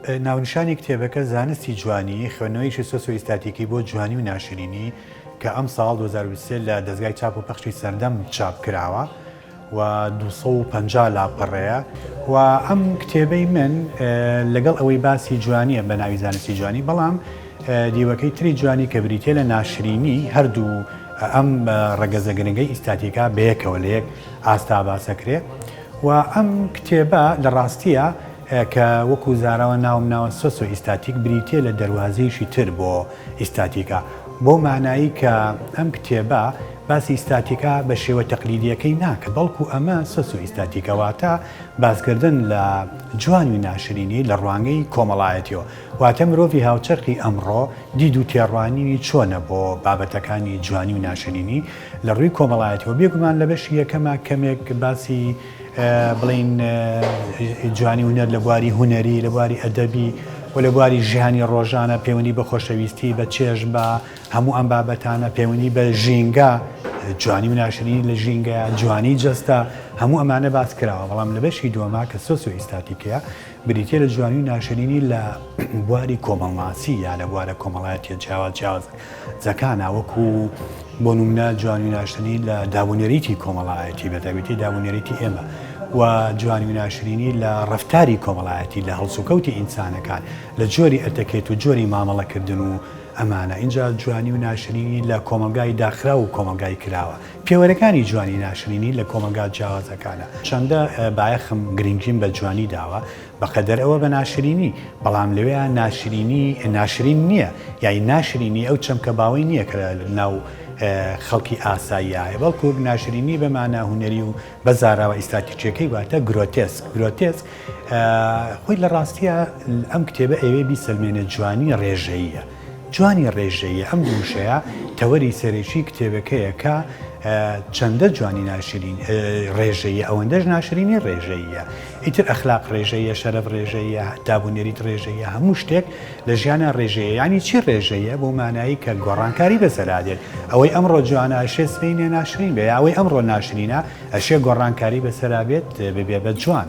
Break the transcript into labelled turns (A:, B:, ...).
A: ناونیشانی کتێبەکە زانستی جوانی خوێنەوەیشی سۆسۆئیستاتیکی بۆ جوانی و ناشرینی کە ئەم ساڵ 2023 لە دەزگای چاپ و پەخشی سەردەم چاپ کراوە. و دوو سەد و پەنجا لاپەڕەیە و ئەم کتێبەی من لەگەڵ ئەوەی باسی جوانیە بە ناوی زانستی جوانی بەڵام دیوەکەی تری جوانی کە بریتە لە ناشرینی هەردوو ئەم ڕەگەزە گرنگەی ئیستاتیکا بەیەکەوە لە یەک ئاستا باسەکرێ و ئەم کتێبە لە ڕاستیە کە وەکو زاراوە ناوم ناوە سۆسۆ ئیستاتیک بریتە لە دەواازەیشی تر بۆ ئیستاتیکا بۆ مانایی کە ئەم کتێبە باسی ئیستاتیکا بە شێوە تەقلیدییەکەی ناکە، بەڵکو ئەمە سۆسیۆئیستاتیکە، واتە باسکردن لە جوانی و ناشرینی لە ڕوانگەی کۆمەڵایەتییەوە، واتە مرۆڤی هاوچەرخی ئەمڕۆ دید و تێڕوانینی چۆنە بۆ بابەتەکانی جوانی و ناشرینی لە ڕووی کۆمەڵایەتییەوە، بێگومان لە بەشی یەکەما کەمێک باسی بڵێین جوانی هونەر لە بواری هونەری، لە بواری ئەدەبی و لە بواری ژیانی ڕۆژانە پەیوەندی بە خۆشەویستی، بە چێژ، بە. هەموو ئەم بابەتانە پەیوەندی بە ژینگە، جوانی و ناشرینی لە ژینگەیە، جوانی جەستە، هەموو ئەمانە باس کراوە، بەڵام لە بەشی دووەما کە سۆسیۆ ئیستاتیکییە، بریتییە لە جوانی و ناشرینی لە بواری کۆمەڵناسی یا لە بوارە کۆمەڵایەتییە جیاواز جیاوازەکانا وەکو بۆ نمونە جوانی و ناشرینی لە دابونەریتی کۆمەڵایەتی بە تایبەتی دابونەریتی ئێمە و جوانی و ناشرینی لە ڕفتاری کۆمەڵایەتی لە هەڵسوکەوتی ئینسانەکان لە جۆری ئەتەکێت و جۆری مامەڵەکردن و ئەمانە ئینجا جوانی و ناشرینی لە کۆمەڵگای داخراو و کۆمەڵگای کراوە. پێوەرەکانی جوانی ناشرینی لە کۆمەڵگا جیاوازەکانە. چەندە بایەخم، گرنگیم بە جوانی داوە، بە قەدەر ئەوە بە ناشرینی. بەڵام لەوێیا ناشرینی ناشرین نییە. یانی ناشرینی ئەو چەمکە باوەی نییە کە لە ناو خەڵکی ئاساییا هەیە، بەڵکوو ناشرینی بە مانا هونەری و بە زاراوە ئیستاتیکییەکەی واتە گرۆتێسک گرۆتێسک خۆی لە ڕاستیە ئەم کتێبە ئەوێ بیسەلمێنێت جوانی ڕێژەیە جوانی ڕێژەیە ئەم دووشەیە تەوەری سەرێکی کتێبەکەیە کە چەندە جوانی ناشرین ڕێژەیە ئەوەندەش ناشرینی ڕێژەیە ئیتر ئەخلاق ڕێژەیە شەرف ڕێژەیە دابونێریت ڕێژەیە هەموو شتێک لە ژیانا ڕێژەیە یانی چی ڕێژەیە بۆ مانایی کە گۆڕانکاری بە زەرادێت ئەوەی ئەمڕۆ جوانە ئەشێ سبەینێ ناشرین بێ یا ئەوەی ئەمڕۆ ناشرینە ئەشێ گۆڕانکاری بەسەرا بێت ببێ بە جوان.